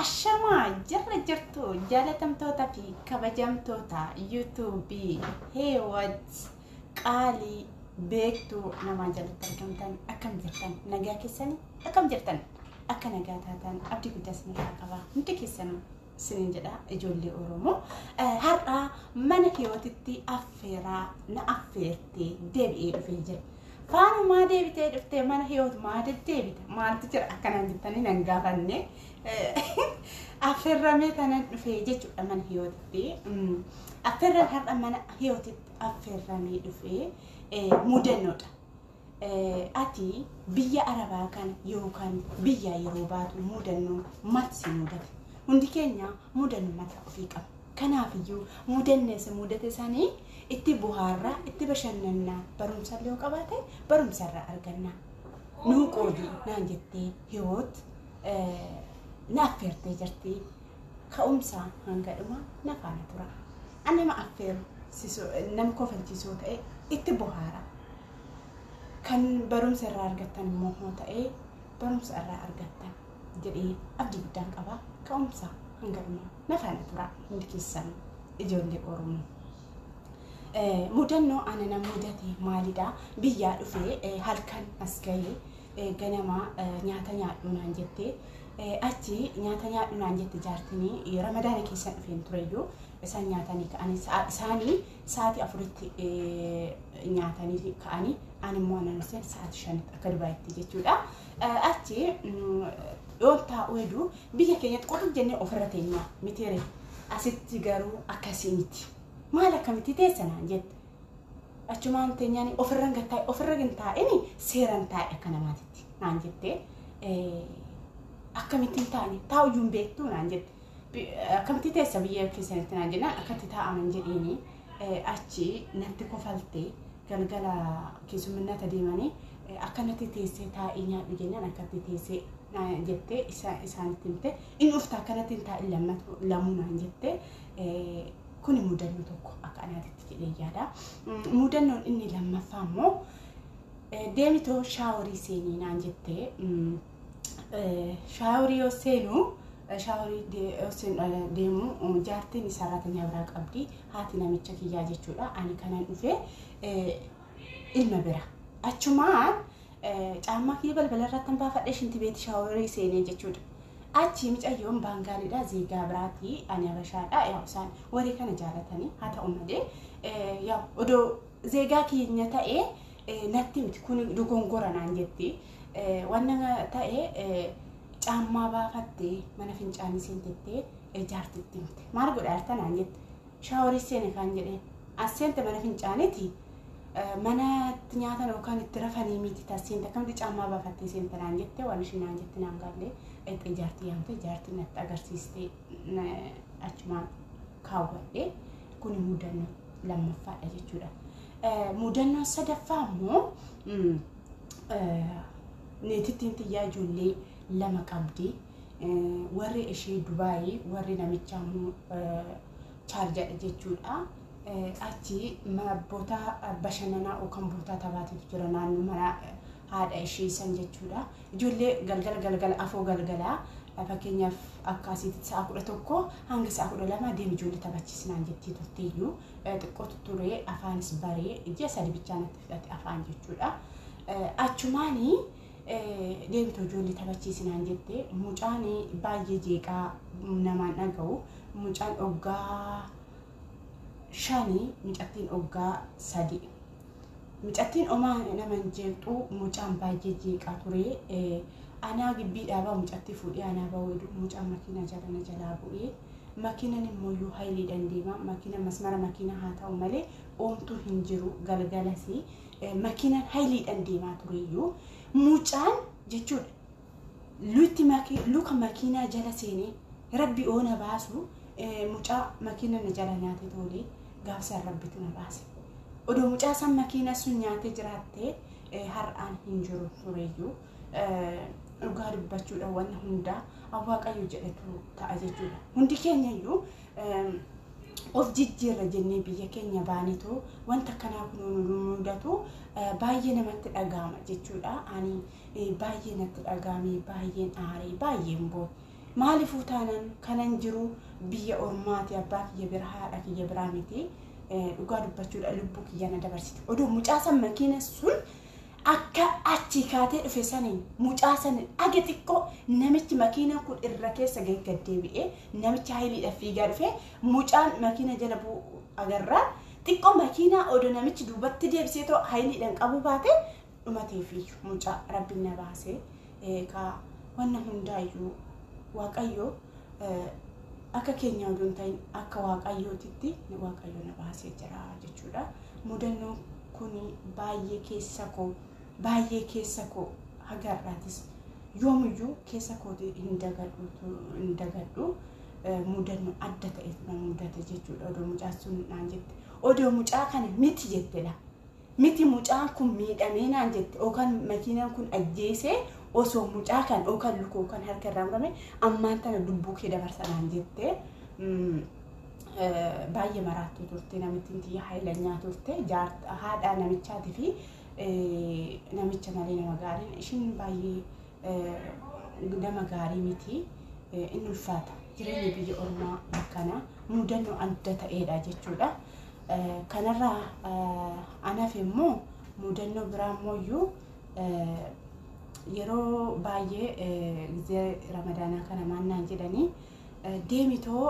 Ashamaa jarra jirtu jaalatamtoota fi kabajamtoota yuutuubii heewat qaalii beektuu namaa jalatti argamtan akkam jirtan nagaa keessanii akkam jirtan akka nagaa taatan abdii guddaas ni qaba hundi keessanuu sinin jedha ijoollee Oromoo. Har'a mana hiyootitti affeeraa na affeertee deebi'ee dhufee jira. Faanumaa deebitee dhuftee mana hiyoot maa deddeebita maaltu jira akkanaan jettanii nan gaafanne. Affeerramee tanan dhufee jechuudha mana hiyootitti. Affeerran har'a mana hiyootitti affeerramee dhufee mudannoodha. Ati biyya Arabaa kana yookaan biyyaa yeroo baatu mudannoo maaltu si mudate? Hundi keenya mudannoo mataa ofii qaba. Kanaafiyyuu mudannee si mudate sanii itti bohaarraa, itti bashannannaa, barumsa illee yoo qabaate barumsa irraa arganna. Nuu qoodi naan jettee hiwoot na affeertee jirti. Ka'umsa hanga dhuma na faana tura. Ani nama affeeru nam kofalchiisoo ta'e itti bohaara. kan barumsa irraa argattan immoo hoo ta'ee barumsa irraa argattan jedhee abdii guddaan qaba ka'umsa hanga dhumaa na faana turaa hundi keessan ijoollee oromoo. Eh, mudannoo ana na mudate maalidha biyyaa dhufee eh, halkan as ga'ee eh, ganama eh, nyaata nyaadhu naan jette eh, achi nyaata nyaadhu naan jette jaartinii eh, ramadaana keessan dhufeen tureyyuu isaan nyaatanii ka'anii sa'a- isaanii Sa'aatii afuritti nyaatanii ka'anii an immoo anan hojjetu sa'aatii shanitti akka dubaayitti jechuudha. Achi yoon taa'u hedduu biyya keenyatti qofa jennee ofirra teenyaa mitiire asitti garuu akkasii miti. Maal akkamitti teessa naan jette. Achumaan teenyaan ofirra hin taa'e ofirra hin taa'ini seeran taa'e akka namaatitti naan jettee akkamittiin taa'e taa'u iyyuu hin beektu naan jette. Akkamti teessa biyya keessanitti naan jennaan akkatti taa'aman jedheeni achi natti kofalte galgala keessumminata deemanii akkanatti teessee taa'ii nyaadhu jennaan akkatti teessee jettee isaanitti himte inni ufta akkanatti hin taa'in lammatu lamuu naan jette kuni mudannoo tokko akka anaatitti jedhee yaada. Mudannoon inni lammaffaa immoo deemitoo shaaworii seenii naan jettee shaaworii yoo seenu shaaworii yoo seenu deemu jaartiin saraatanyaa biraa qabdi haati namicha kiyyaa jechuudha ani kanan dhufe ilma bira achumaan caammaa kiyya balbala irratti hin baafadhe shinti beeti shaaworii seenee jechuudha. Achi micayyoon baangaaliidha zeegaa biraati ani abashaadha yaa isaan warri kana jaalatanii haa ta'u malee yaa odoo zeegaa keenya ta'ee natti miti kun dogongora naan jetti. Wanna ta'e caammaa baafattee mana fincaanii seentettee jaartitti himte. Maal godha harta naan jette. Shaaworii seene kaan jedheen. As seente mana fincaaniiti. Mana itti nyaatan yookaan itti rafanii miti tas seente akkamti caammaa baafattee seente naan jette waan isheen naan jette naan galle dhaqxee jaartii yaamte jaartii natti agarsiiste achumaan kaawwadhe kun mudannoo lammaffaadha jechuudha. Mudannoo sadaffaa immoo niitittiin tiyyaa ijoollee lama qabdi. Warri ishee Dubaayii warri namichaa immoo chaarjadha jechuudha. Achi boota bashannanaa yookaan boota taphaatiif jira naannoo mana haadha ishee san jechuudha. Ijoollee galgala galgala afoo galgala fakkeenyaaf akka asiitti sa'a kudha tokko hanga sa'a kudha lama deemi ijoollee taphachiisnaan jettee turteeyyuu xiqqootu ture afaanis baree ji'a sadi bichaa natti fudhate afaan jechuudha. Achumaan deemtu ijoollee taphachiisinaan jette mucaan baay'ee jeeqaa namaan dhaga'u mucaan oggaa shanii mucattiin oggaa sadii. Mucattiin omaa nama hin jeeqxu mucaan baay'ee jeeqaa ture. Anaa gibbii dhaabaa mucatti fuudhee anaa baweedu mucaan makiina jala na jalaa bu'ee makiinan immoo yoo hayileedhaan deema makiina masmara makiina haa ta'u malee Omtuu hin jiru galgalasi makiinaan hayiliidhaan deemaa tureyyuu mucaan jechuudha. Lutti maki- luka makiinaa jala seenee rabbi oona baasu eh, mucaa makiina na jala nyaate toolee gaafsan rabbitu na baase. Odoo mucaa san makiina sun nyaatee jiraattee eh, har'aan hin jiru tureyyuu eh, dhugaa dubbachuudha wanna hundaa Waaqayyo jedhetu ta'a jechuudha. Hundi keenya iyyuu eh, of jijjiirra jennee biyya keenya baanetu wanta kanaa kunuu nu mudatu baay'ee namatti dhaga'ama jechuudha. Ani baay'ee natti dhaga'ame baay'een aaree baay'een boo'e. Maaliifuu taanaan kanan jiru biyya ormaati abbaa kiyya bira haadha kiyya biraa miti dhugaa dubbachuudha lubbuu kiyya na dabarsite. Oduu mucaasan makiina sun Akka achii kaatee dhufe saniin mucaa saniin haga xiqqoo namichi makiinaan kun irra keessa gahee gad deebi'ee namichi hayiliidhaaf fiigaa dhufee mucaan makiina jala bu'u agarraa xiqqoo makiinaa odo namichi duubatti deebisee too hayiliidhaan qabuu baate dhumateefiiyyu mucaa rabbiin na baasee eegaa wanna hundaayyuu waaqayyo akka keenya oduu hin ta'in akka waaqayyootitti waaqayyo na baasee jira jechuudha. Mudannoon kun baay'ee keessa koo baay'ee keessa koo haga har'aatis yoomiyyuu keessa kooti hin dagadhu hin dagadhu mudannoo adda ta'eef na mudate jechuudha odoo mucaa sun naan jette odoo mucaa kana miti jettedha Miti mucaan kun miidhamee naan jette okan makiinan kun ajjeesee osoo mucaa kan okan lukoo kan harka irraa murame ammaan tana lubbuu kee dabarsa naan jette baay'ee maraattuu turte namittiin tiyya haayilanyaa turte haadhaa namichaatii fi namicha malee nama gaariin ishiin baay'ee nama gaarii miti in ulfaata jireenya biyya ormaa akkanaa mudannoo adda ta'eedha jechuudha. Kanarraa an hafe immoo mudannoo biraa immoo iyyuu yeroo baay'ee gizee ramadaanaa kana maal naan jedhanii deemitoo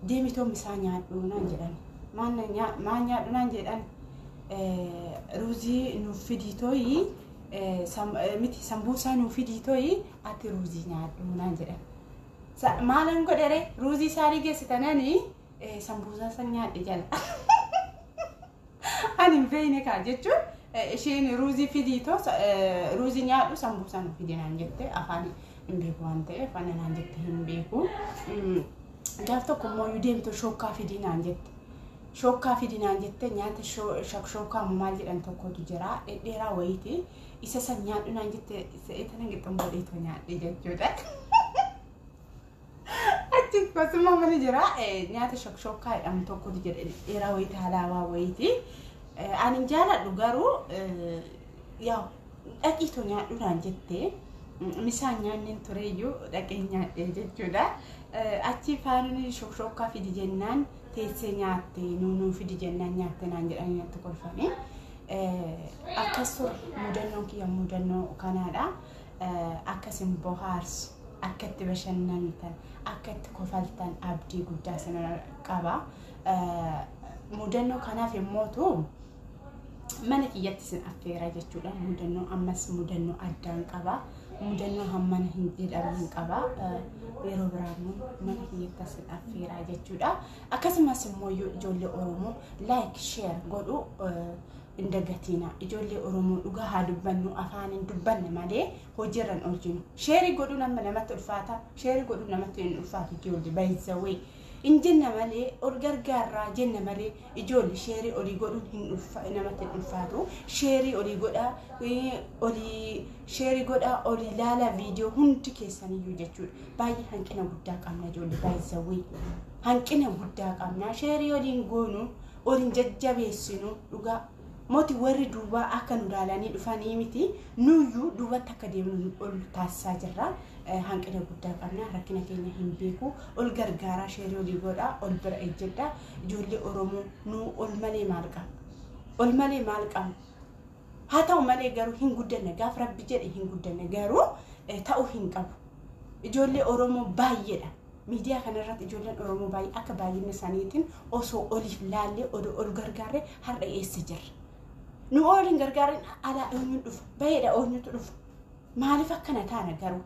deemitoo misaa nyaadhu naan jedhan maal nyaadhu naan jedhan ruuzii nuuf fidii tooyi miti sambuusaa nuuf fidii tooyi ati ruuzii nyaadhu naan jedhan maalan godhere ruuzii isaanii geessitananii Sambuusaa san nyaadhe jala. Ani hin beekne kaa jechuun isheen ruuzii fidii too ruuzii nyaadhu sambuusaa nu fide naan jette afaan hin beeku waan ta'eef ana naan jette hin beeku. Gaaf tokko immoo yoo deemtu shookkaa fidii naan jette. Shookkaa fidii naan jette nyaata shookkaa maal jedhan tokkotu jira dhedheeraa wayiiti isa san nyaadhu naan jette isa eetan hin qixxummoo dheetoo nyaadhe jechuudha. Achi kosuma mali jira nyaata shokshokkaa jedhamu tokkotu jira dheeraa wayii taalaawaa wayiiti. Ani hin jaaladhu garuu yaa dhaqii too nyaadhu naan jettee misaan nyaanneen tureeyyuu dhaqee nyaadhee jechuudha. Achi faanni shokshokkaa fidi jennaan teessee nyaatte nuunuu fidi jennaan nyaatte naan jedhanii natti kolfanii. Akkas ture mudannoon kiyya mudannoo kanaadha. akka isin bohaarsu, akka itti bashannantan, akka itti kofaltan abdii guddaa isin qaba. Mudannoo kanaaf immootu mana kiyyatti isin affeera jechuudha. Mudannoo ammas mudannoo addaan qaba. Mudannoo hammana hin jedhamne qaba. Yeroo biraa immoo mana kiyyatti isin affeera jechuudha. Akkasumas immoo ijoollee Oromoo like share godhu hin dagatiina ijoollee oromoo dhugaa haa dubbannu afaaniin dubbanna malee hojiirra hin oolchinu sheerii godhuun amma namatti ulfaata sheerii godhuun namatti hin ulfaatu ijoollee baay'isawwee hin jenna malee ol gargaarraa jenna malee ijoollee sheerii olii godhuun hin ulfa namatti hin ulfaatu sheerii olii godhaa eh, olii sheerii godhaa olii laalaa viidiyoo hundi keessaniyyuu jechuudha baay'ee hanqina guddaa qabna ijoollee baay'isawwee hanqina guddaa qabna sheerii oliin goonu ol hin jajjabeessinu dhugaa moti warri duubaa akka nu laalanii dhufanii miti nuyyuu duubatti akka deemnu ol taasisaa jirra Eh, hanqina guddaa qabna rakkina keenya hin beeku ol gargaaraa sheerii olii godhaa ol bira ejjedha ijoollee oromoo nu ol malee maal qabna ol malee maal qabna Haa ta'u malee garuu hin guddanne gaaf rabbi jedhe hin guddanne garuu eh, ta'uu hin qabu. Ijoollee Oromoo baay'eedha. Miidiyaa kanarratti ijoolleen Oromoo baay'ee akka baay'ina isaaniitiin osoo oliif laallee odoo ol gargaarree har'a eessa jirra. Nu ooliin gargaarreen alaa eenyuun dhufa? Baheedha eenyutu dhufa? Maaliif akkana taana garuu?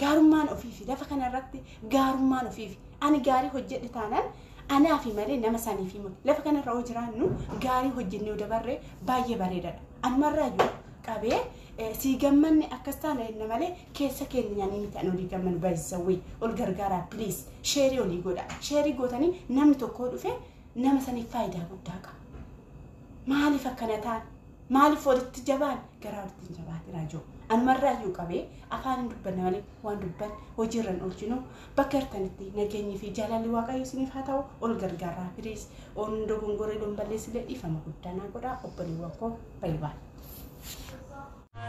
Gaarummaan ofiifi. Lafa kana irratti gaarummaan ofiifi. Ani gaarii hojjedhe taanaan anaafi malee nama saniifi miti. Lafa kana irra yoo jiraannu gaarii hojjennee yoo dabarre baay'ee bareedadha. Anumarraayyuu qabee eh, sii gammanne akkas taana jenna malee keessa keenya nyaanii miti ani olii gammanu baay'isawwee ol gargaaraa please sheerii olii godha. Sheerii gootanii namni tokkoo dhufe nama saniif faayidaa guddaa qaba. Maaliif akkana taana? Maaliif walitti jabaan garaa walitti hin jabaate raajoo. Anumarraa iyyuu qabee afaan hin dubbanne malee waan dubban hojiirra hin oolchinu. Bakka jirtanitti nageenyi fi jaalalli waaqayyo isiniif haa ta'u ol gargaarraa piliis. Oon dogongoree don balleessillee dhiifama guddaa naa godhaa obboleewwan koo baay'ee baay'ee.